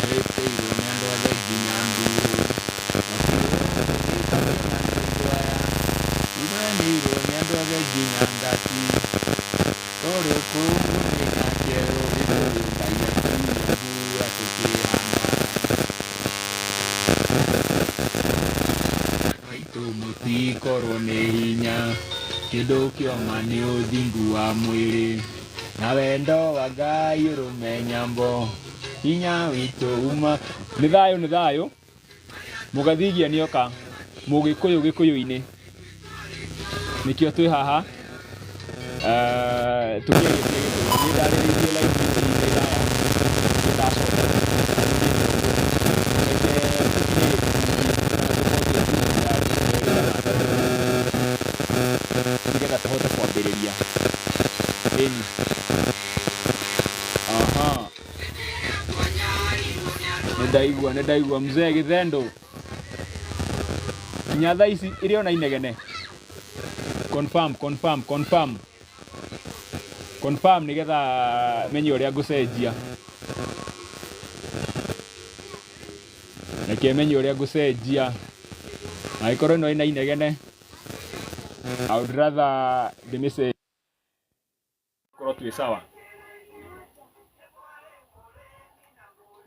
ĩrĩkĩirwo nĩ andũ othe nginya Nduru. Nĩtũremeirwo nĩ andũ othe nginya Ngati. No rĩu kũu nĩ Nyakerũ nĩ kũndũ Ngai atũire mbura tũkĩhanda. Ngai witũ mũtikorwo nĩ hinya, kĩndũ kĩoma nĩ ũthingu wa mwĩrĩ. Na wendo wa Ngai ũrũme nyambo hinya witũ uma. Nĩ thayũ nĩ thayũ mũgathigia nĩoka mũgĩkũyũ gĩkũyũ-inĩ nĩkĩo twĩ haha eh, tũkĩrĩkia gĩkũyũ nĩ ndarĩrĩirie live ici nĩ ndaya ndĩracoka nĩgetha tũhote kwambĩrĩria Ĩni. Aha. Nĩ ndaigua, nĩ ndaigua. Mzee Githendo. Nginya thaa ici ĩrĩ ona inegene. Confirm, confirm, confirm. Confirm nĩgetha menye ũrĩa ngũcenjia. Reke menye ũrĩa ngũcenjia. Angĩkorwo ĩno ĩna inegene. I would rather the message korwo twĩ sawa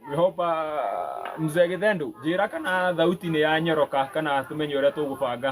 we hope uh, mzee githendo njĩra kana thauti nĩ ya nyoroka kana tũmenye ũrĩa tũgũbanga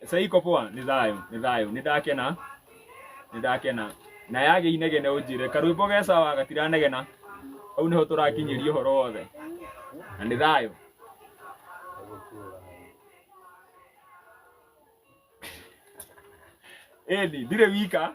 Sasa iko poa, ni thayo, ni thayo. Ni ndakena. Ni ndakena. Na yage inegene unjire karwimbo ge sawa gatiranegena. Au niho turakinyiria horo wothe. Na ni thayo. Ĩni, ndirĩ wika.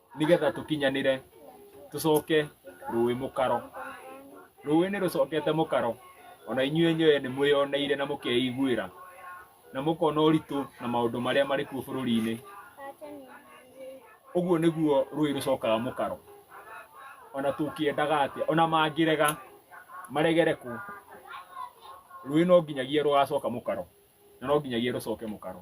nĩgetha tũkinyanĩre tũcoke rũĩ mũkaro rũĩ nĩ rũcokete mũkaro ona inyuĩ enyewe nĩ mwĩyoneire na mũkeiguĩra na mũkona ũritũ na maũndũ marĩa marĩ kuo bũrũri-inĩ ũguo nĩguo rũĩ rũcokaga mũkaro ona tũkĩendaga atĩa ona mangĩrega maregere kũ rũĩ no nginyagia rũgacoka mũkaro na no nginyagia rũcoke mũkaro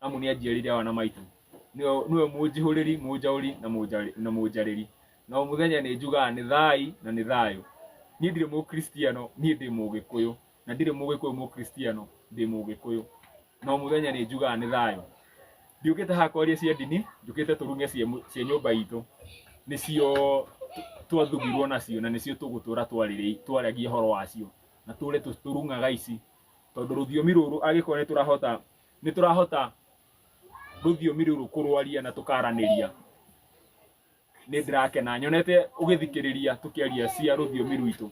amu nĩ anjiarire awa na maitũ Nĩwe- nĩwe mũnjihũrĩri mũnjaũri na mũnjarĩ- na mũnjarĩri na o mũthenya nĩ njugaga nĩ thai na nĩ thayũ niĩ ndirĩ mũkristiano niĩ ndĩ mũgĩkũyũ na ndirĩ mũgĩkũyũ mũkristiano ndĩ mũgĩkũyũ na o mũthenya nĩ njugaga nĩ thayũ ndiũkĩte haha kwaria cia ndini njũkĩte tũrume cia mũ- cia nyũmba itũ nĩcio twathugirwo nacio na nĩcio tũgũtũra twarĩrĩ- twaragia ũhoro wacio na tũre tũ- tũrung'aga ici tondũ rũthiomi rũrũ angĩkorwo nĩ tũrahota nĩ tũrahota rũthiomi rũrũ kũrwaria na tũkaranĩria nĩ ndĩrakena nyonete ũgĩthikĩrĩria tũkĩaria cia rũthiomi rwitũ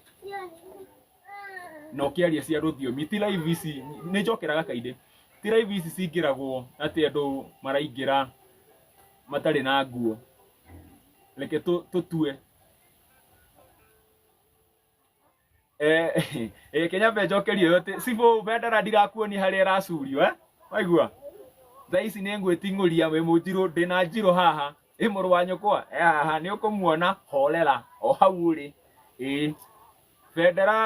na ũkĩaria cia rũthiomi ti live ici nĩ njokeraga kaingĩ ti live ici cingĩragwo atĩ andũ maraingĩra matarĩ na nguo reke tũ- tũtue eh eh kenya mbe njokerio yote sibo bendera ndirakuoni haria iracurio eh waigua thaa ici nĩ ngwĩting'ũria wĩ mũnjirũ ndĩ na njirũ haha ĩ mũrũ wa nyũkwa Eh, haha nĩ ũkũmuona horera o hau ũrĩ ĩ bendera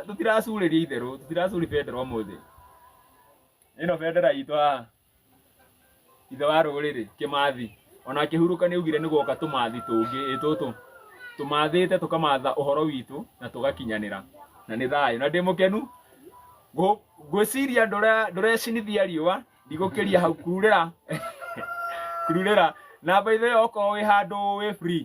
tũtiracurĩria itherũ tũtiracuri bendera ũmũthĩ ĩno bendera itũ haha ithe wa rũrĩrĩ kĩmathi ona akĩhurũka nĩ augire nĩ gwoka tũmathi tũngĩ ĩ tũtũ tũmathĩte tũkamatha ũhoro witũ na tũgakinyanĩra na nĩ thayũ na ndĩ mũkenu Ngũ- ngwĩciria ndũre- ndũrecinithia riũa ndigũkĩria hau kururĩra kururĩra na by the way okorwo wĩ handũ wĩ free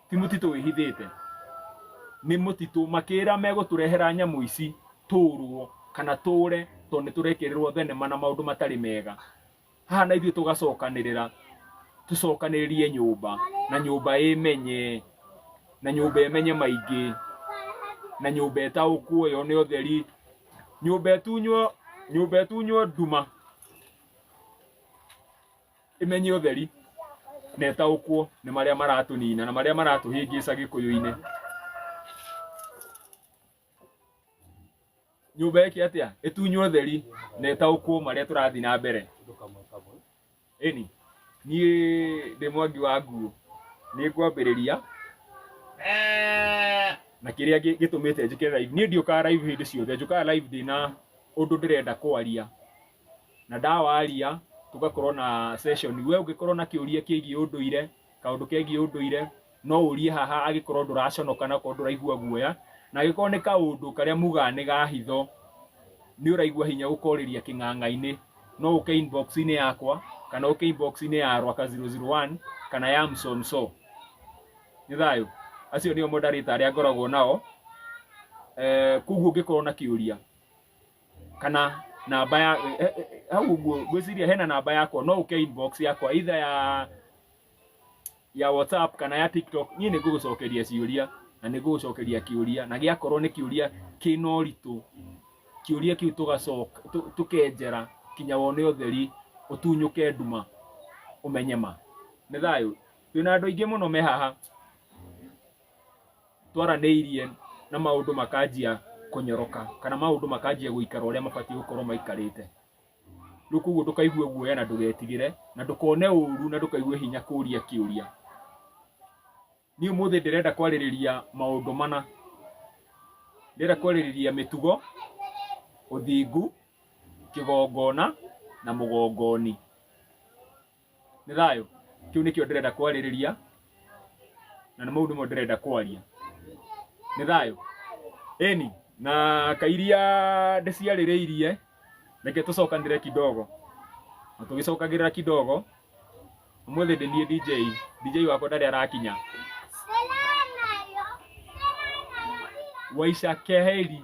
ti mũtitũ wĩhithĩte nĩ mũtitũ makĩra megũtũrehera nyamũ ici tũrwo kana tũre tondũ nĩ tũrekererwo thenema na maũndũ matarĩ mega haha na ithuĩ tũgacokanĩrĩra tũcokanĩrĩrie nyũmba na nyũmba ĩmenye na nyũmba ĩmenye maingĩ na nyũmba ĩtaũkwo yone ũtheri nyũmba ĩtunywo nyũmba ĩtunywo nduma ĩmenye ũtheri na ĩtaũkwo nĩ marĩa maratũnina na marĩa maratũhĩngĩca gĩkũyũ-inĩ nyũmba ĩke atĩa ĩtunywo ũtheri na ĩtaũkwo marĩa tũrathiĩ na mbere ĩni niĩ ndĩ mwangi wa nguo nĩ ngwambĩrĩria na kĩrĩa gĩ- gĩtũmĩte njĩke live niĩ ndiũkaga live hĩndĩ ciothe njũkaga live ndĩna ũndũ ndĩrenda kwaria na ndawaria tũgakorwo na session we ũngĩkorwo na kĩũria kĩgiĩ ũndũire kaũndũ kegiĩ ũndũire no ũrie haha agĩkorwo ndũraconoka na korwo ndũraigua guoya na agĩkorwo nĩ kaũndũ karĩa mugaga nĩ ga hitho nĩ ũraigua hinya gũkorĩria kĩng'ang'a-inĩ no ũke inbox-inĩ yakwa kana ũke inbox-inĩ ya rwaka 001 kana ya msonso nĩ thayũ acio nĩo moderator arĩa ngoragwo nao eh, koguo ũngĩkorwo na kĩũria kana namba ya eh, eh, eh, hau ũguo ngwĩciria hena namba yakwa no ũke inbox yakwa either ya ya whatsapp kana ya tiktok niĩ nĩ ngũgũcokeria ciũria na nĩ ngũgũcokeria kĩũria na gĩakorwo nĩ kĩũria kĩna ũritũ kĩũria kĩu tũgacoka tũ- tũkenjera kinya wone ũtheri ũtunyũke nduma ũmenye ma nĩ thayũ twĩna andũ aingĩ mũno me haha twaranĩirie na maũndũ makanjia kũnyoroka kana maũndũ makanjia gũikara ũrĩa mabatiĩ gũkorwo maikarĩte rĩu koguo ndũkaigue guoya na ndũgetigĩre na ndũkone ũru na ndũkaigue hinya kũria kĩũria niĩ ũmũthĩ ndĩrenda kwarĩrĩria maũndũ mana ndĩrenda kwarĩrĩria mĩtugo ũthingu kĩgongona na mũgongoni nĩ thayũ kĩu nĩkĩo ndĩrenda kwarĩrĩria na nĩ mau nĩmo ndĩrenda kwaria nĩ thayũ eni na kairia ndĩciarĩrĩirie reke tũcokanĩre kidogo na tũgĩcokagĩrĩra kidogo ũmũthĩ ndĩ niĩ DJ DJ wakwa ndarĩ arakinya waisha keheri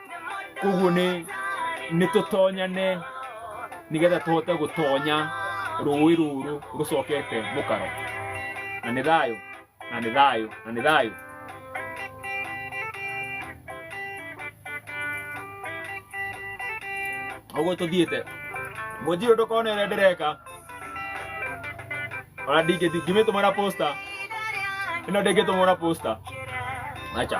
koguo nĩ nĩ tũtonyane nĩgetha tũhote gũtonya rũĩ rũrũ rũcokete mũkaro na nĩ thayũ na nĩ thayũ na nĩ thayũ ũguo tũthiĩte mũnjirũ ndũkona ĩrĩa ndĩreka ona ndingĩthi ngimĩtũmana posta ĩno ndĩngĩtũmana posta acha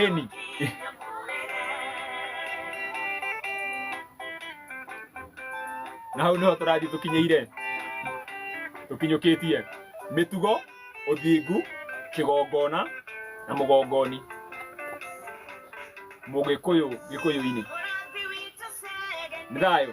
Eni. na hau niho tũrathiĩ tũkinyĩire tũkinyũkĩtie mĩtugo ũthingu kĩgongona na mũgongoni mũgĩkũyũ gĩkũyũ-inĩ nĩ thayũ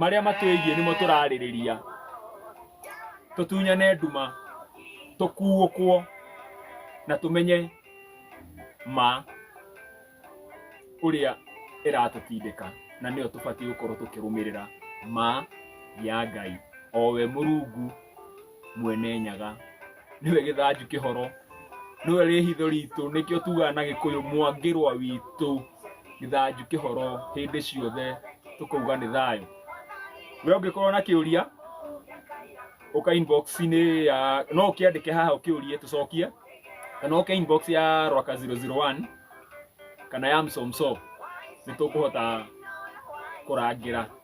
marĩa matwĩgiĩ nĩmo tũrarĩrĩria tũtunyane nduma tũkuũkwo na tũmenye ma ũrĩa ĩratũtindĩka na nĩyo tũbatiĩ gũkorwo tũkĩrũmĩrĩra ma ya ngai o we mũrungu Mwene Nyaga nĩwe gĩthanju kĩhoro, nĩwe rĩhitho ritũ, nĩkĩo tugaga na gĩkũyũ Mwangĩrwa witũ, gĩthanju kĩhoro hĩndĩ ciothe tũkauga nĩ thayũ. We ũngĩkorwo na kĩũria ũka inbox -inĩ ya, no ũkĩandĩke haha ũkĩũrie tũcokie, kana ũke inbox ya Rwaka 001 kana ya Msomso nĩ tũkũhota kũrangĩra.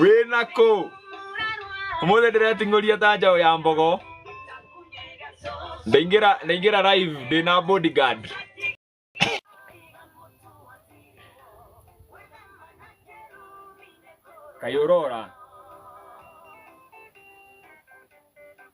wĩna kũ ũmũthĩ ndĩreting'ũria ta njaũ ya mbogo ndaingĩra ndaingĩra live ndĩna bodyguard kaĩ ũrora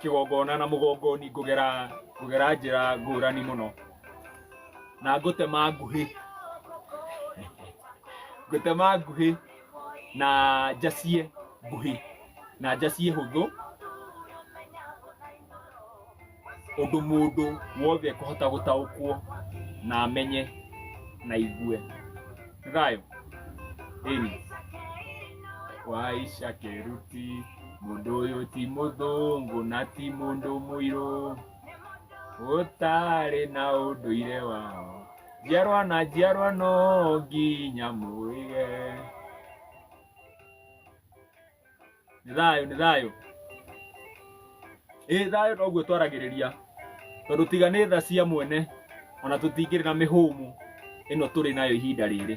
kĩgongona na mũgongoni ngũgera ngũgera njĩra ngũrani mũno na ngũtema nguhĩ ngũtema nguhĩ na njacie nguhĩ na njacie hũthũ ũndũ mũndũ wothe ekũhota gũtaũkwo na amenye na igue thayũ ĩni waica kĩruti Mũndũ ũyũ ti mũthũngũ na ti mũndũ mũirũ, ũtarĩ na ũndũire wao. Njiarwa na njiarwa no nginya mũige. Nĩ thayũ, nĩ thayũ. Ĩ thayũ noguo twaragĩrĩria, tondũ tiga nĩ tha cia mwene, ona tũtingĩrĩ na mĩhũmũ ĩno tũrĩ nayo ihinda rĩrĩ.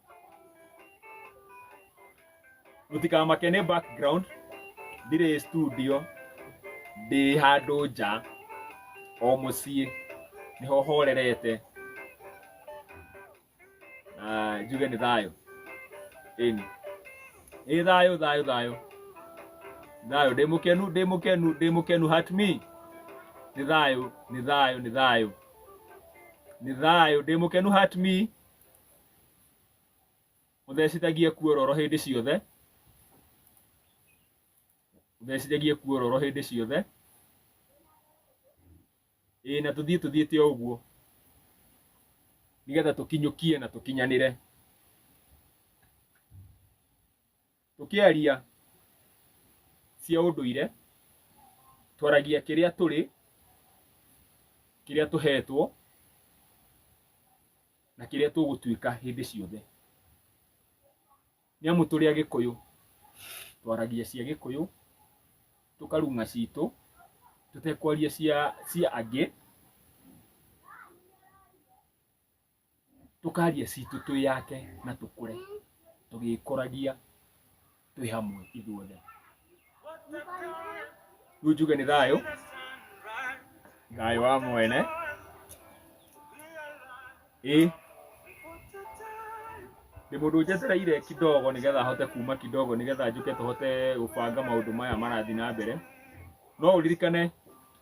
mũtikamake nĩ background ndirĩ studio ndĩ handũ nja o mũciĩ nĩho horerete na njuge nĩ thayũ ĩni ĩ thayũ thayũ thayũ thayũ ndĩ mũkenu ndĩ mũkenu ndĩ mũkenu hat me nĩ thayũ nĩ thayũ nĩ thayũ nĩ thayũ ndĩ mũkenu hat me ũthecithagie kuororo hĩndĩ ciothe ũthecithagie kuororo hĩndĩ ciothe ĩĩ na tũthiĩ tũthiĩte o ũguo nĩgetha tũkinyũkie na tũkinyanĩre Tũkĩaria cia ũndũire, twaragia kĩrĩa tũrĩ, kĩrĩa tũhetwo, na kĩrĩa tũgũtuĩka hĩndĩ ciothe. Nĩ amu tũrĩ Agĩkũyũ, twaragia cia Gĩkũyũ, tũkarung'a citũ, tũtekwaria cia cia angĩ. tũkaria citũ twĩ yake na tũkũre tũgĩkũragia twĩ hamwe ithuothe rĩu njuge nĩ thayũ thayũ wa mwene ĩ ndĩ mũndũ njetereire kidogo nĩgetha hote kuma kidogo nĩgetha njũke tũhote gũbanga maũndũ maya marathiĩ na mbere no ũririkane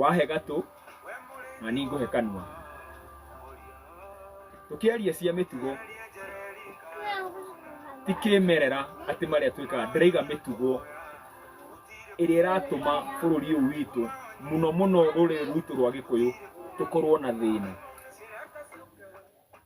wahe gatũ na niĩ ngũhe kanua tũkĩaria cia mĩtugo ti kĩmerera atĩ marĩa twĩkaga ndĩraiga mĩtugo ĩrĩa ĩratũma bũrũri ũyũ witũ mũno mũno rũrĩrĩ rwitũ rwa gĩkũyũ tũkorwo na thĩna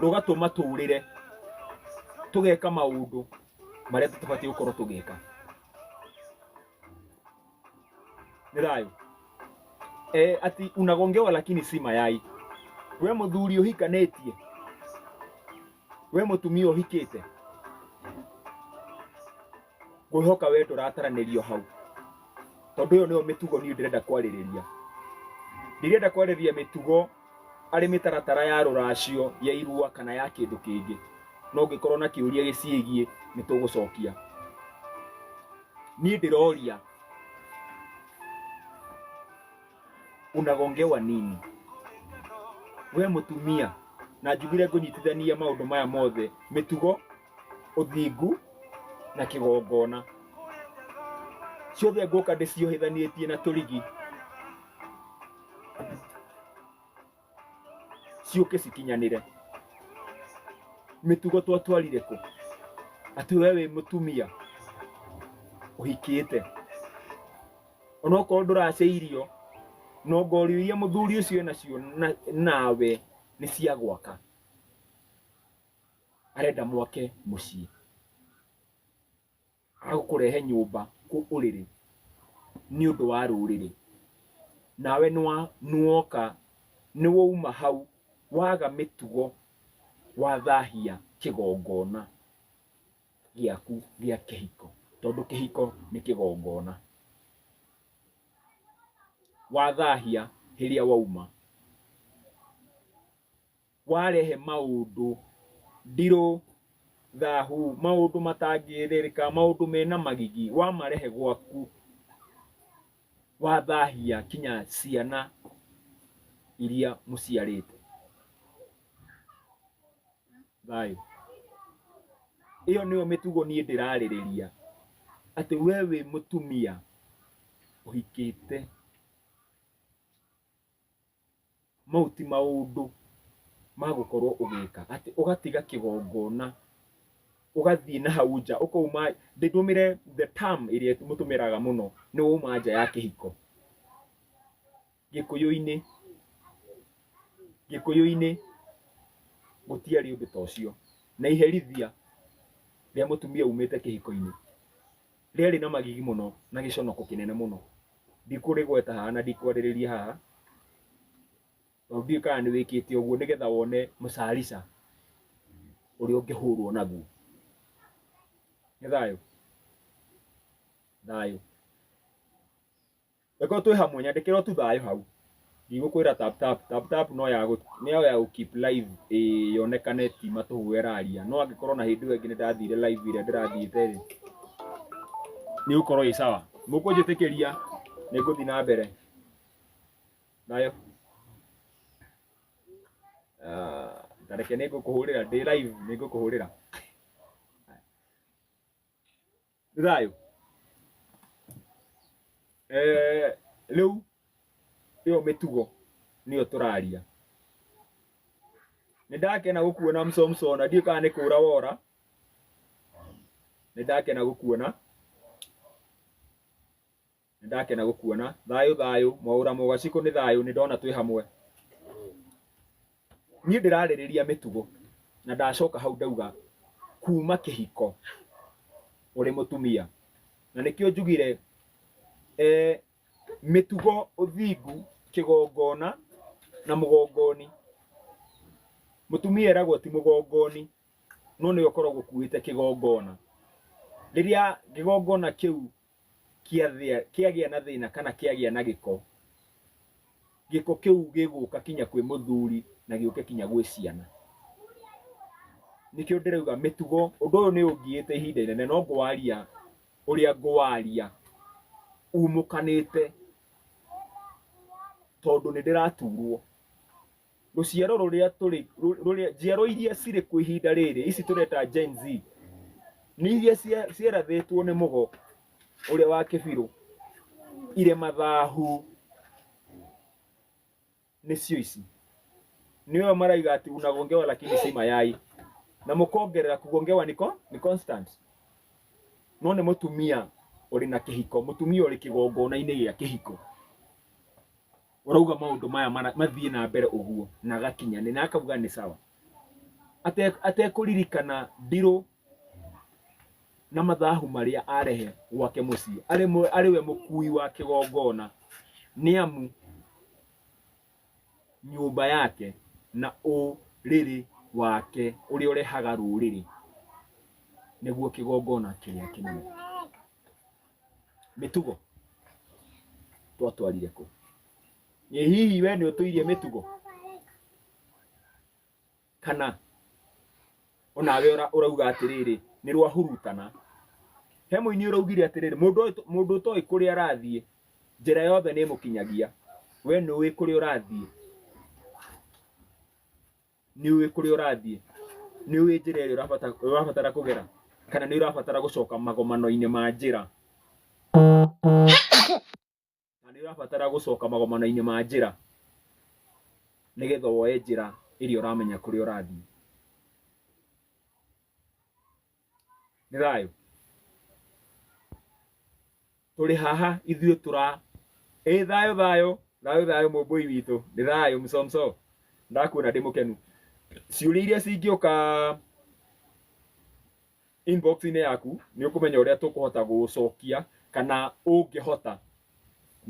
rũgatũma tũũrĩre tũgeka maũndũ marĩa tũtabatiĩ gũkorwo tũgĩka nĩ thayũ e, ati unagongewa lakini si mayai we mũthuri ũhikanĩtie we mũtumia ũhikĩte ngwĩhoka we ndũrataranĩrio hau tondũ ĩyo nĩyo mĩtugo niĩ ndĩrenda kwarĩrĩria ndirenda kwarĩrĩria mĩtugo arĩ mĩtaratara ya rũracio ya irua kana ya kĩndũ kĩngĩ na ũngĩkorwo na kĩũria gĩciĩgiĩ nĩ tũgũcokia niĩ ndĩroria unagongewa nini we mũtumia na njugire ngũnyitithania maũndũ maya mothe mĩtugo ũthingu na kĩgongona ciothe ngũka ndĩciohithanĩtie na tũrigi ciũke cikinyanĩre mĩtugo twatwarire kũ atĩ we wĩ mũtumia ũhikĩte onokorwo ndũrace irio no ngorio iria mũthuri ũcio enacio na- nawe nĩ cia gwaka arenda mwake mũciĩ Agũkũrehe nyũmba kũ ũrĩrĩ nĩ ũndũ wa rũrĩrĩ, nawe nĩwa nĩwoka nĩwauma hau waga mĩtugo wathahia kĩgongona gĩaku gĩa kĩhiko, tondũ kĩhiko nĩ kĩgongona, wathahia rĩrĩa wauma. warehe maũndũ ndirũ thahu maũndũ matangĩrĩrĩka maũndũ mena magigi wamarehe gwaku wathahia kinya ciana iria mũciarĩte thayũ ĩyo nĩyo mĩtugo niĩ ndĩrarĩrĩria atĩ we wĩ mũtumia ũhikĩte Mau ti maũndũ ma gũkorwo ũgĩka atĩ ũgatiga kĩgongona ũgathiĩ na hau nja ũkauma ndĩtũmĩre the term ĩrĩa mũtũmĩraga mũno nĩ wauma nja ya kĩhiko. Gĩkũyũ-inĩ, Gĩkũyũ-inĩ gũtiarĩ ũndũ ta ũcio na iherithia rĩa mũtumia umĩte kĩhiko-inĩ. rĩarĩ na magigi mũno na gĩconoko kĩnene mũno ndikũrĩgweta haha na ndikwarĩrĩria haha tondũ ndiũĩ kana nĩ wĩkĩte ũguo nĩgetha wone mũcarica ũrĩa ũngĩhũrwo naguo nĩ thayũ thayũ Reke twĩ hamwe nyandĩkĩra o tu thayũ hau. Ndigũkwĩra tap tap, tap tap no ya gũ nĩ yo ya gũ keep live ĩĩ yonekane ti matũhũ ĩraria. No angĩkorwo na hĩndĩ ĩyo ĩngĩ nĩ ndathire live ĩrĩa ndĩrathiĩte rĩ, nĩ ĩgũkorwo ĩĩ sawa. Mũkũnjĩtĩkĩria nĩ ngũthi na mbere. Thayũ. Ah, Ta reke nĩ ngũkũhũrĩra ndĩ live nĩ ngũkũhũrĩra. nĩ thayũ Eh, rĩu ĩyo mĩtugo nĩyo tũraria nĩ ndakena gũkuona msomsona ndiũ kana nĩ kũra wora nĩ ndakena gũkuona Nĩ ndakena gũkuona. Thayũ, thayũ, mwaũra mũgacikũ nĩ thayũ, nĩ ndona twĩ hamwe. Niĩ ndĩrarĩrĩria mĩtugo, na ndacoka hau ndauga kuuma kĩhiko ũrĩ mũtumia. Na nĩkĩo njugire eh, mĩtugo, ũthingu, kĩgongona na mũgongoni. Mũtumia eragwo ti mũgongoni, no nĩwe ũkoragwo ũkuĩte kĩgongona. Rĩrĩa kĩgongona kĩu kĩathĩa- kĩagĩa na thĩna kana kĩagĩa na gĩko, gĩko kĩu gĩgũka kinya kwĩ mũthuri na gĩũke kinya gwĩ ciana. Nĩkĩo ndĩrauga mĩtugo, ũndũ ũyũ nĩ ũngiĩte ihinda inene no ngwaria ũrĩa ngwaria umũkanĩte tondũ nĩ ndĩraturwo. Rũciaro rũrĩa tũrĩ rũrĩa njiaro iria cirĩ kuo ihinda rĩrĩ ici tũreta Gen Z nĩ iria cia- cierathĩtwo nĩ mũgo ũrĩa wa kĩbirũ irĩ mathahu nĩcio ici nĩo maraiga ati unagongewa lakini si mayai na mũkongerera kugongewa niko ni constant no nĩ mũtumia ũrĩ na kĩhiko mũtumia ũrĩ kĩgongona-inĩ gĩa kĩhiko ũrauga maũndũ maya mara- mathiĩ na mbere ũguo na agakinya nĩ na akauga nĩ sawa Ate- atekũririkana ndirũ na mathahu marĩa arehe gwake mũciĩ arĩ mwe- arĩ we mũkui wa kĩgongona nĩ amu nyũmba yake na ũrĩrĩ wake ũrĩa ũrehaga rũrĩrĩ nĩguo kĩgongona kĩrĩa kĩnene mĩtugo twatwarire kũ ĩ hihi we nĩ ũtũirie mĩtugo kana onawe ũra- ũrauga atĩrĩrĩ nĩ rwahurutana he mũini ũraugire atĩrĩrĩ mũndũ ũyũ- mũndũ ũtoĩ kũrĩa arathiĩ njĩra yothe nĩ ĩmũkinyagia we nĩ ũĩ kũrĩa ũrathiĩ nĩ ũĩ kũrĩa ũrathiĩ nĩ ũĩ njĩra ĩrĩa ũrabata- ũrabatara kũgera kana nĩ ũrabatara gũcoka magomano-inĩ ma njĩra na nĩ ũrabatara gũcoka magomano-inĩ ma njĩra nĩgetha woe njĩra ĩrĩa ũramenya kũrĩa ũrathiĩ nĩ thayũ tũrĩ haha ithuĩ tũra ĩ thayũ thayũ thayũ thayũ mũmbũi witũ nĩ thayũ msomso ndakuona ndĩ mũkenu ciũria iria cingĩũka inbox-inĩ yaku nĩ ũkũmenya ũrĩa tũkũhota gũcokia kana ũngĩhota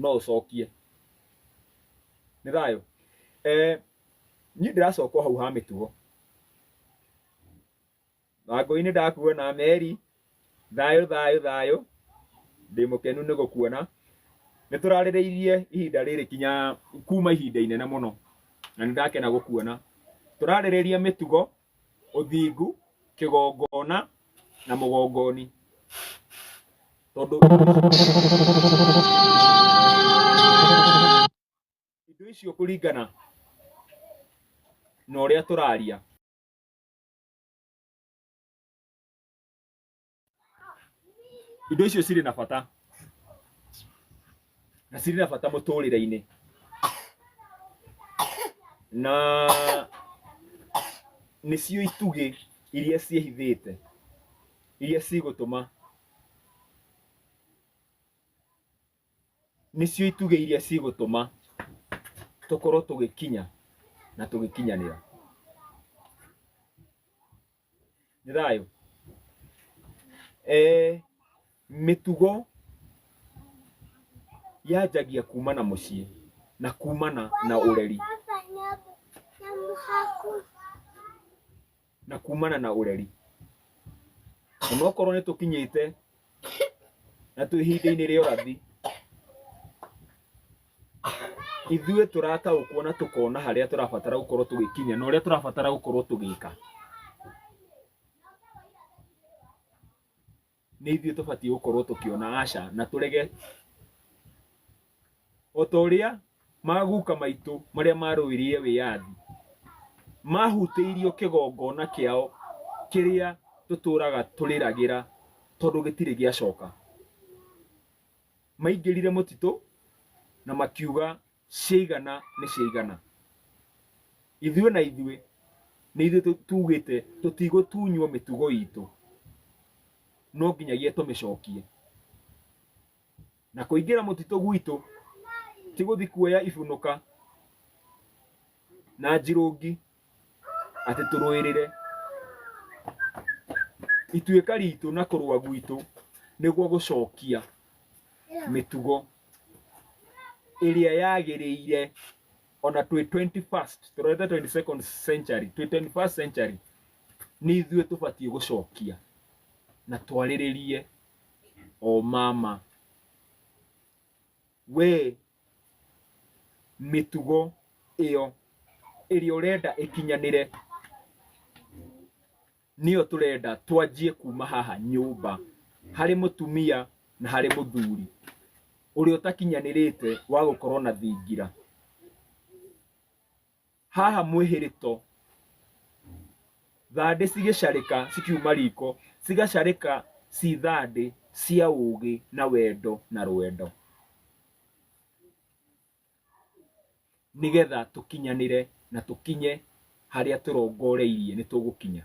no ũcokie nĩ thayũ eh, niĩ ndĩracoka o hau ha mĩtugo Bango-inĩ ndakuona Meri, thayũ thayũ thayũ, ndĩ mũkenu nĩ gũkuona. Nĩ tũrarĩrĩirie ihinda rĩrĩ kinya kuma ihinda inene mũno na nĩ ndakena gũkuona. Tũrarĩrĩria mĩtugo, ũthingu, kĩgongona na mũgongoni tondũ indo icio kũringana na ũrĩa tũraria. indo icio cirĩ na bata na cirĩ na bata mũtũrĩre-inĩ na nĩcio itugĩ iria ciĩhithĩte iria cigũtũma nĩcio itugĩ iria cigũtũma tũkorwo tũgĩkinya na tũgĩkinyanĩra nĩ thayũ eh, mĩtugo yanjagia kumana mũciĩ na kumana na ũreri na kumana na ũreri onokorwo nĩ tũkinyĩte na twĩ ihinda-inĩ rĩa ũrathi ithuĩ tũrataũkwo na tũkona harĩa tũrabatara gũkorwo tũgĩkinya na ũrĩa tũrabatara gũkorwo tũgĩka nĩ ithuĩ tũbatiĩ gũkorwo tũkĩona aca na tũrege o ta ũrĩa maguka maitũ marĩa marũĩrĩire wĩyathi mahutĩirio kĩgongona kĩao kĩrĩa tũtũraga tũrĩragĩra tondũ gĩtirĩ gĩacoka. Maingĩrire mũtitũ na makiuga ciaigana nĩ ciaigana ithuĩ na ithuĩ nĩ ithuĩ tũ- tugĩte tũtigũtunywo mĩtugo itũ no nginyagia tũmĩcokie na kũingĩra mũtitũ gwitũ ti gũthi kuoya ibunuka na njirũngi atĩ tũrũĩrĩre ituĩka ritũ na kũrũa gwitũ nĩguo gũcokia mĩtugo ĩrĩa yagĩrĩire ona twĩ 21st tũrorete 22nd century twĩ 21st century nĩ ithuĩ tũbatiĩ gũcokia na twarĩrĩrie o mama Wee mĩtugo ĩyo ĩrĩa ũrenda ĩkinyanĩre nĩyo tũrenda twanjie kuma haha nyũmba harĩ mũtumia na harĩ mũthuri ũrĩa ũtakinyanĩrĩte wa gũkorwo na thingira. haha mwĩhĩrĩto thandĩ cigĩcarĩka cikiuma riko cigacarĩka ci thandĩ cia ũũgĩ na wendo na rwendo nĩgetha tũkinyanĩre na tũkinye harĩa tũrongoreirie nĩ tũgũkinya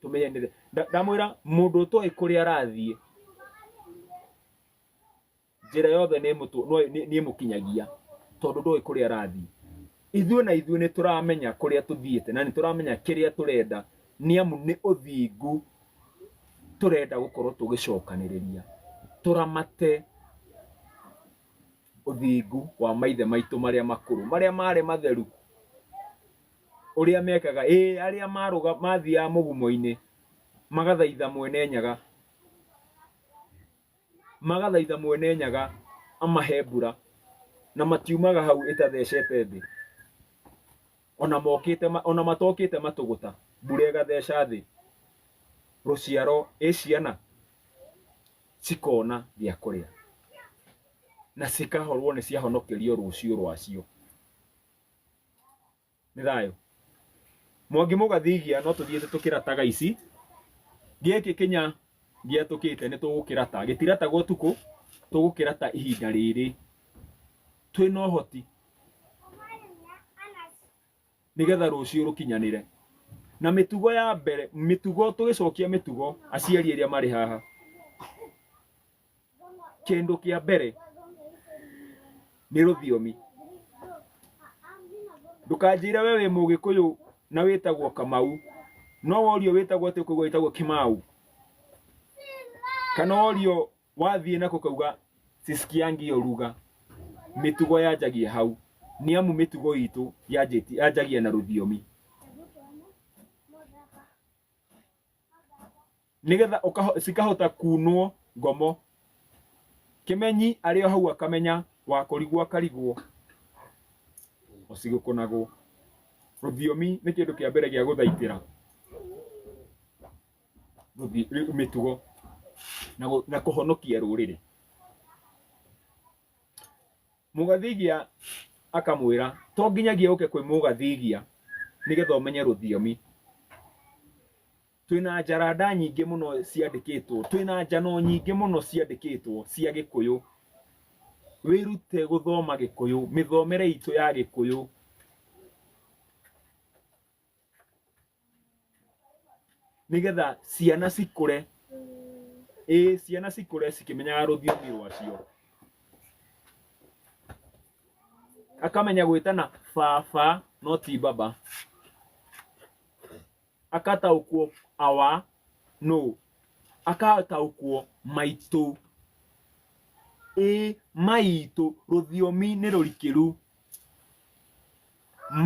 tũmenyanĩre Nda- ndamwĩra mũndũ ũtoĩ kũrĩa arathiĩ njĩra yothe nĩ ĩmũtũ- no- nĩ- nĩ ĩmũkinyagia tondũ ndoĩ kũrĩa arathiĩ ithuĩ na ithuĩ nĩ tũramenya kũrĩa tũthiĩte na nĩ tũramenya kĩrĩa tũrenda nĩ amu nĩ ũthingu tũrenda gũkorwo tũgĩcokanĩrĩria tũramate ũthingu wa maithe maitũ marĩa makũrũ marĩa marĩ matheru ũrĩa mekaga ĩĩ arĩa marũga mathiaga mũgumo-inĩ magathaitha mwene nyaga magathaitha mwene nyaga amahe mbura na matiumaga hau ĩtathecete thĩ ona mokĩte ma- ona matokĩte matũgũta mbura ĩgatheca thĩ rũciaro ĩ ciana cikona gĩa kũrĩa na cikahorwo nĩ ciahonokerio rũciũ rwacio nĩ thayũ mwangi mũgathigia no tũthiĩte tũkĩrataga ici gĩkĩ kĩnya gĩatũkĩte nĩ tũgũkĩrata gĩtirataga ũtukũ tũgũkĩrata ihinda rĩrĩ twĩ na ũhoti nĩgetha rũciũ rũkinyanĩre na mĩtugo ya mbere mĩtugo tũgĩcokia mĩtugo aciari arĩa marĩ haha kĩndũ kĩa mbere nĩ rũthiomi ndũkanjĩre we wĩ mũgĩkũyũ na wĩtagwo kamau no worio wĩtagwo atĩ ũkauga wĩtagwo kimau kana worio wathiĩ nako kauga sisikiangi oruga mĩtugo yanjagia hau nĩ amu mĩtugo itũ yanjĩti- yanjagia na rũthiomi nĩgetha ũkaho- cikahota kunwo ngomo kimenyi arĩ o hau akamenya wakũrigwo akarigwo ũcigũkũnagwo rũthiomi nĩ kĩndũ kĩa mbere gĩa gũthaitĩra rũthi- rĩ- mĩtugo na gũ- na kũhonokia rũrĩrĩ Mũgathigia akamwĩra to nginyagia ũke kwĩ mũgathigia nĩgetha ũmenye rũthiomi. Twĩna njaranda nyingĩ mũno ciandĩkĩtwo, twĩna njano nyingĩ mũno ciandĩkĩtwo cia Gĩkũyũ. Wĩrute gũthoma Gĩkũyũ, mĩthomere itũ ya Gĩkũyũ. nĩgetha ciana cikũre ĩ ciana cikũre cikĩmenyaga rũthiomi rwacio akamenya gwĩtana baba no ti baba akataũkwo awa no akataũkwo maitũ ĩ maitũ rũthiomi nĩ rũrikĩru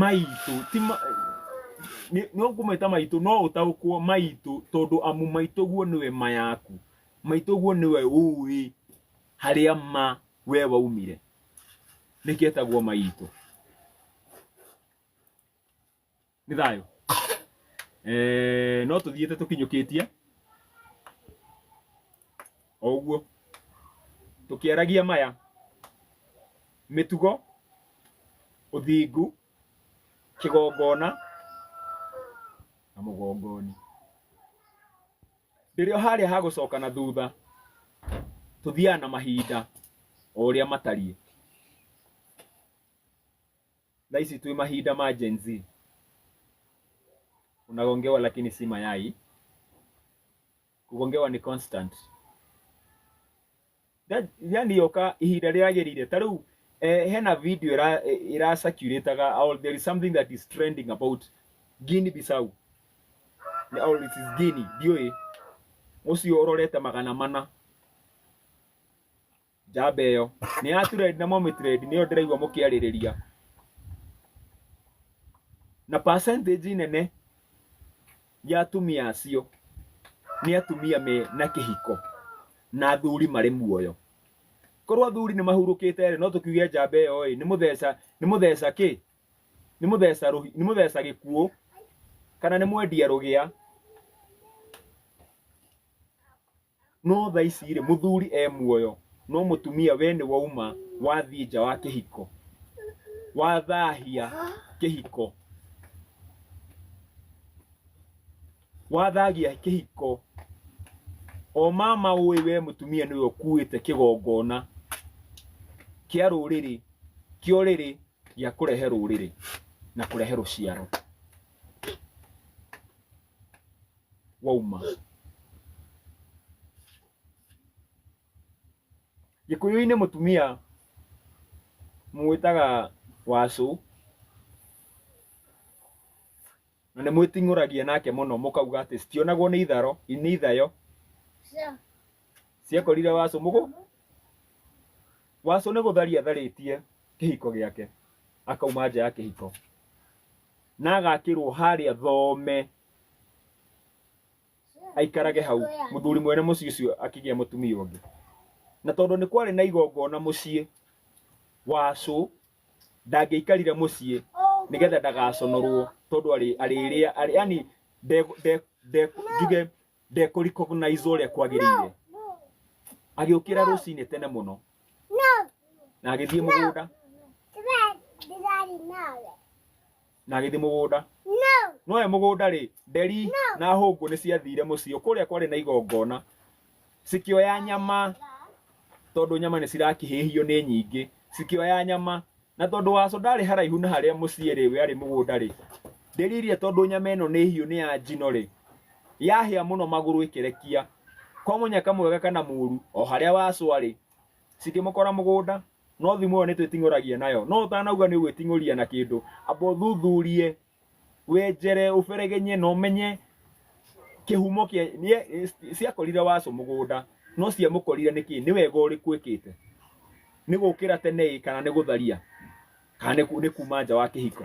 maitũ ti ma- nĩ- no ngũmeta maitũ no ũtaũkwo maitũ tondũ amu maitũguo nĩwe ma yaku maitũguo nĩwe ũĩ harĩa ma we waumire nĩkĩo etagwo maitũ nĩ thayũ Eh, no tũthiĩte tũkinyũkĩtie o ũguo tũkĩaragia maya mĩtugo ũthingu kĩgongona na mũgongoni ndĩrĩ o harĩa ha gũcoka na thutha tũthiaga na mahinda o ũrĩa matariĩ thaa ici twĩ mahinda ma Gen Z unagongewa lakini si mayai kugongewa ni constant That- yani yoka ihinda riagirire ta riu eh, hena video ira ira circulataga or there is something that is trending about Guinea Bissau Ni- or it is Guinea ndioi mucio urorete magana mana njamba ĩyo nĩ ya trend na momĩ trend nĩyo ndĩraigua mũkĩarĩrĩria na percentage nene ya atumia acio nĩ atumia me na kĩhiko na athuri marĩ muoyo korwo athuri nĩ mahurũkĩte rĩ no tũkiuge njamba ĩyo ĩ nĩ mũtheca nĩ mũtheca kĩ nĩ mũtheca rũhi nĩ mũtheca gĩkuũ kana nĩ mwendia rũgĩa No tha ici rĩ mũthuri e muoyo no mũtumia we nĩ wauma wathiĩ nja wa kĩhiko wathahia kĩhiko wathagia kĩhiko o mama ũĩ we mũtumia nĩwe ũkuĩte kĩgongona kĩa rũrĩrĩ kĩa ũrĩrĩ gĩa kũrehe rũrĩrĩ na kũrehe rũciaro wauma gĩkũyũ-inĩ mũtumia mũwĩtaga wacũ na nĩ mwĩting'ũragia nake mũno mũkauga atĩ citionagwo nĩ itharo nĩ ithayo ciakorire wacũ mũgũ wacũ nĩ gũtharia atharĩtie kĩhiko gĩake akauma nja ya kĩhiko na agakĩrwo harĩa thome aikarage hau mũthuri mwene mũciĩ ũcio akĩgĩa mũtumia ũngĩ na tondũ nĩ kwarĩ na igongona mũciĩ wacũ ndangĩikarire mũciĩ nĩgetha ndagaconorwo tondũ arĩ- arĩrĩa arĩ- yani nde- nde- nde- njuge ndekũrecognize ũrĩa kwagĩrĩire agĩũkĩra rũcinĩ tene mũno na agĩthiĩ mũgũnda na agĩthiĩ mũgũnda no e mũgũnda rĩ nderi na hũngũ nĩ ciathire mũciĩ kũrĩa kwarĩ na igongona cikĩoya nyama tondũ nyama nĩ cirakĩhĩhio nĩ nyingĩ cikĩoya nyama Na tondũ Waco ndaarĩ haraihu na harĩa mũciĩ-rĩ, we arĩ mũgũnda-rĩ, ndĩririe tondũ nyama ĩno nĩ hiũ nĩ ya njino-rĩ, yahĩa mũno magũrũ ĩkĩrekia. Kwa mũnyaka mwega kana mũũru, o harĩa Waco arĩ, cikĩmũkora mũgũnda. No thimo ĩyo nĩtwĩting'ũragia nayo. No ũtanauga nĩũgwĩting'ũria na kĩndũ, amba ũthuthurie. wenjere ũberegenye na ũmenye kĩhumo kĩa nĩ- ciakorire wacu mũgũnda no ciamũkorire nĩkĩ nĩ wega ũrĩkũ ĩkĩte nĩ gũkĩra tene ĩ kana nĩ gũtharia kana nĩ ku- nĩ kuma nja wa kĩhiko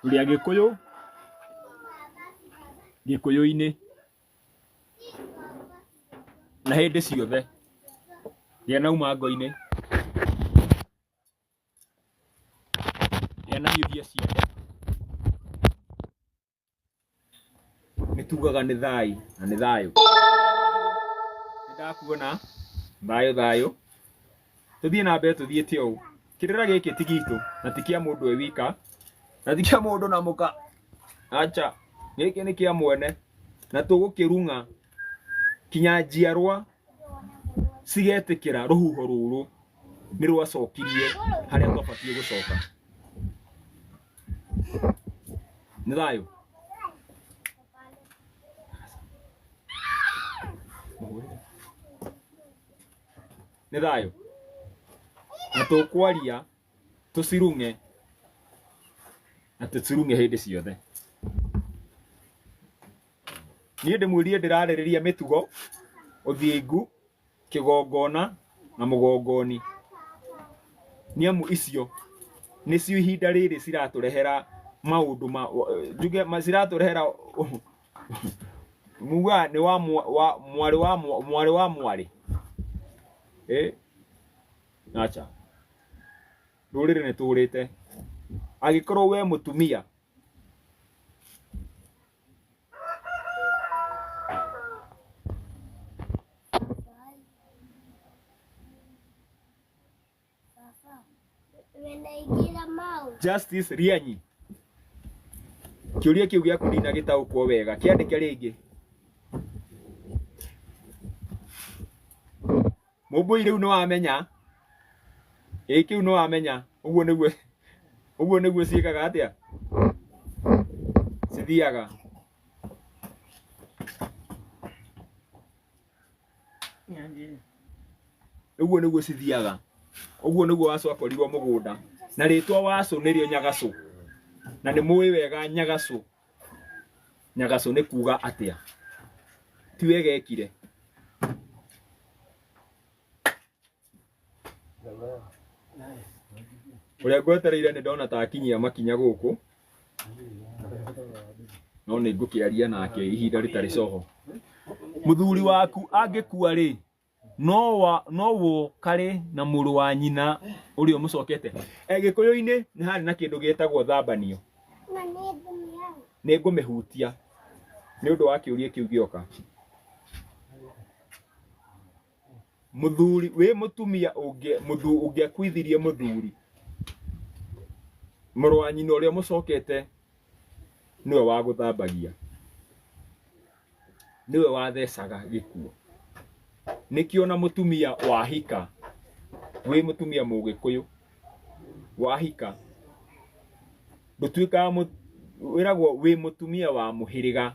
Tũrĩ Agĩkũyũ, Gĩkũyũ-inĩ na hĩndĩ ciothe rĩrĩa nauma ngo-inĩ rĩrĩa nahiũhia ciande. nĩ tugaga nĩ thai na nĩ thayũ nĩ ndakuona thayũ thayũ tũthiĩ na mbere tũthiĩte ũũ kĩrĩra gĩkĩ ti gitũ na ti kĩa mũndũ e wika na ti kĩa mũndũ na mũka acha gĩkĩ nĩ kĩa mwene na tũgũkĩrung'a kinya njiarwa cigetĩkĩra rũhuho rũrũ nĩ rwacokirie harĩa rwabatiĩ gũcoka. Nĩ thayũ. Nĩ thayũ. Na tũkwaria tũcirung'e na tũcirung'e hĩndĩ ciothe. Niĩ ndĩmwĩrire ndĩrarĩrĩria mĩtugo, ũthingu, kĩgongona na mũgongoni nĩ amu icio nĩcio ihinda rĩrĩ ciratũrehera maũndũ ma njuge ma- ciratũrehera muga nĩ wa mwa- wa- mwarĩ wa mwa- mwarĩ wa mwarĩ Eh? acha rũrĩrĩ nĩ tũrĩte angĩkorwo we mũtumia Wenaigĩra mau. Justice Rianyi. Kĩũria kĩu gĩaku ndina gĩtaũkwo wega. Kĩandĩke rĩngĩ. Mũmbũi rĩu nĩ wamenya. Ĩĩ kĩu nĩ wamenya. Ũguo nĩguo ũguo nĩguo ciĩkaga atĩa? Cithiaga. Ũguo nĩguo cithiaga. Ũguo nĩguo wacũ akorirwo mũgũnda. Na rĩtwa wacũ nĩrĩo nyagacũ. Na nĩ mũĩ wega nyagacũ. nyagacũ nĩ kuga atĩa tiwe gekire ũrĩa ngwetereire nĩ ndona ta akinyia makinya gũkũ no nĩ ngũkĩaria nake ihinda rĩtarĩ coho mũthuri waku angĩkua rĩ no wa no wo karĩ na mũrũ wa nyina ũrĩa ũmũcokete Eh, gĩkũyũ-inĩ nĩ harĩ na kĩndũ gĩtagwo thambanio nĩ ngũmĩhutia nĩ ũndũ wa kĩũria kĩu gĩoka mũthuri wĩ mũtumia ũngĩ mũthu- ũngĩakuithirie mũthuri mũrũ wa nyina ũrĩa mũcokete nĩwe wa gũthambagia nĩwe wathecaga gĩkuũ nĩkĩo ona mũtumia wahika wĩ mũtumia mũgĩkũyũ wahika ndũtuĩkaga mũ- wĩragwo wĩ mũtumia wa mũhĩrĩga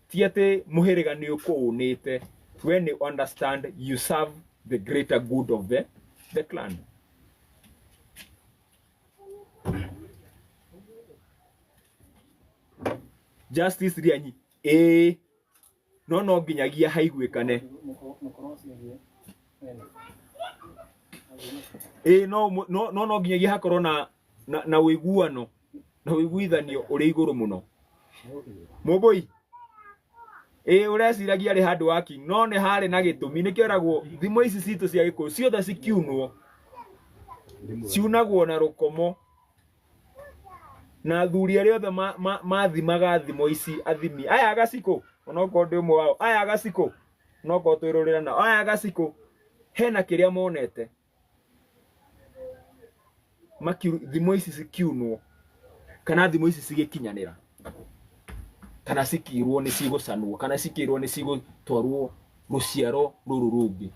ti atĩ mũhĩrĩga nĩ ũkũũnĩte we nĩ understand you serve the greater good of the, the clan justice rĩanyi ĩĩ no no nginyagia haiguĩkane ĩĩ no mũ- no no no nginyagia hakorwo na na, na ũiguano na ũiguithanio ũrĩ igũrũ mũno mũmbũi ĩĩ ũreciragia rĩ handũ wa king no nĩ harĩ na gĩtũmi nĩkĩo eragwo thimo ici citũ cia gĩkũyũ ciothe cikiunwo ciunagwo na rũkomo na athuri arĩa othe ma- ma- mathimaga thimo ici athimi aya agacikũ onokorwo ndĩ ũmwe wao aya agacikũ onokorwo twĩrorera nao aya agacikũ hena kĩrĩa monete Makiu- thimo ici cikiunwo kana thimo ici cigĩkinyanĩra kana cikirwo nĩ cigũcanwo kana cikirwo nĩ cigũtwarwo rũciaro rũrũ rũngĩ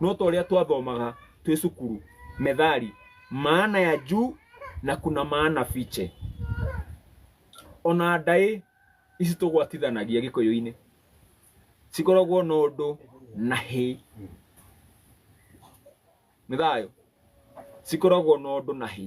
no ta ũrĩa twathomaga twĩ cukuru methali maana ya juu na kuna maana fiche ona ndaĩ ici tũgwatithanagia gĩkũyũ-inĩ cikoragwo na ũndũ na hĩ nĩ thayũ cikoragwo na ũndũ na hĩ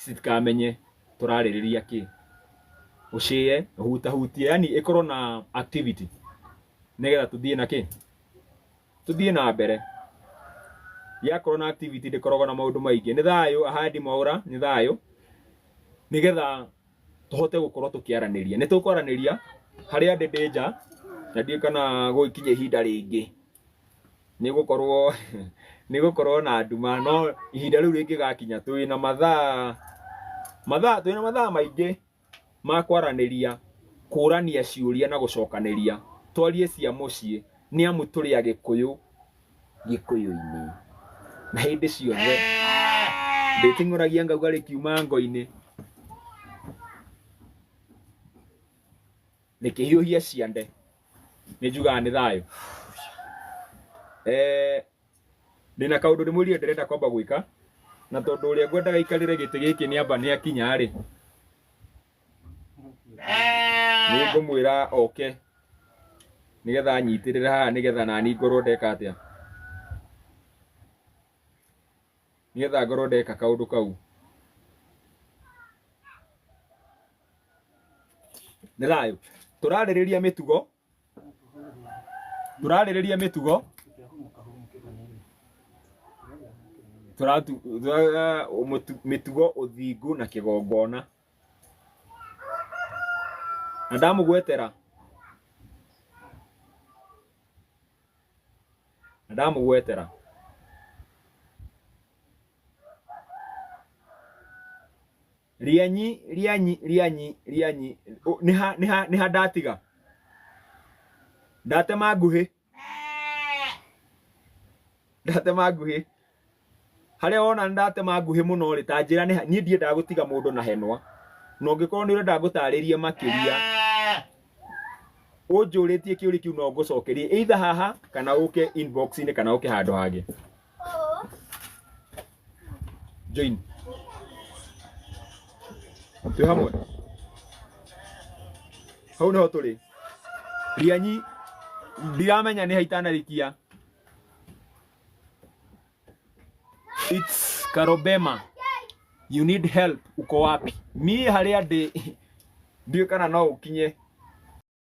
citikamenye tũrarĩrĩria kĩ ũcĩe ũhutahutie yani ĩkorwo na activity nĩgetha tũthiĩ na kĩ tũthiĩ na mbere yakorwo na activity ndĩkoragwo na maũndũ maingĩ nĩ thayũ ahandi mwaũra nĩ thayũ nĩgetha tũhote gũkorwo tũkĩaranĩria nĩ tũkwaranĩria harĩa ndĩ ndĩ nja na ndiũĩ kana gũgĩkinye ihinda rĩngĩ nĩ gũkorwo nĩ gũkorwo na nduma no ihinda rĩu rĩngĩgakinya twĩ na mathaa mathaa twĩ na mathaa maingĩ ma kwaranĩria kũrania ciũria na gũcokanĩria twarie cia mũciĩ nĩ amu tũrĩ agĩkũyũ gĩkũyũ-inĩ na hĩndĩ ciothe ndĩting'ũragia ngauga rĩkiuma ngo-inĩ nĩkĩhiũhie ciande nĩ njugaga nĩ thayũ eh, ndĩna kaũndũ nĩ mwĩrire ndĩrenda kwamba gwĩka na tondũ ũrĩa ngwendaga ikarĩre gĩtĩ gĩkĩ nĩ amba nĩ akinya rĩ nĩ ngũmwĩra oke nĩgetha anyitĩrĩre haha nĩgetha nani ngorwo ndeka atĩa nĩgetha ngorwo ndeka kaũndũ kau nĩ thayũ tũrarĩrĩria mĩtugo tũrarĩrĩria mĩtugo tũratu- tũra- mũtu- mĩtugo ũthingu na kĩgongona na ndamũgwetera na ndamũgwetera rĩanyi rĩanyi rĩanyi rĩanyi Ũ- nĩ ha nĩ ha nĩ ha ndatiga ndatema nguhĩ ndatema nguhĩ harĩa wona nĩ ndatema nguhĩ mũno rĩ ta njĩra nĩ ha- niĩ ndiendaga gũtiga mũndũ na henwa na ũngĩkorwo nĩ ũrenda ngũtarĩrie makĩria ũnjũrĩtie kĩũria kĩu no ngũcokerie either haha kana ũke inbox-inĩ kana ũke handũ hangĩ Join. Twĩ hamwe. Hau nĩho tũrĩ. Rianyi ndiramenya nĩ haitanarikia. It's Karobema. You need help. Uko wapi? Niĩ harĩa ndĩ ndiũĩ kana no ũkinye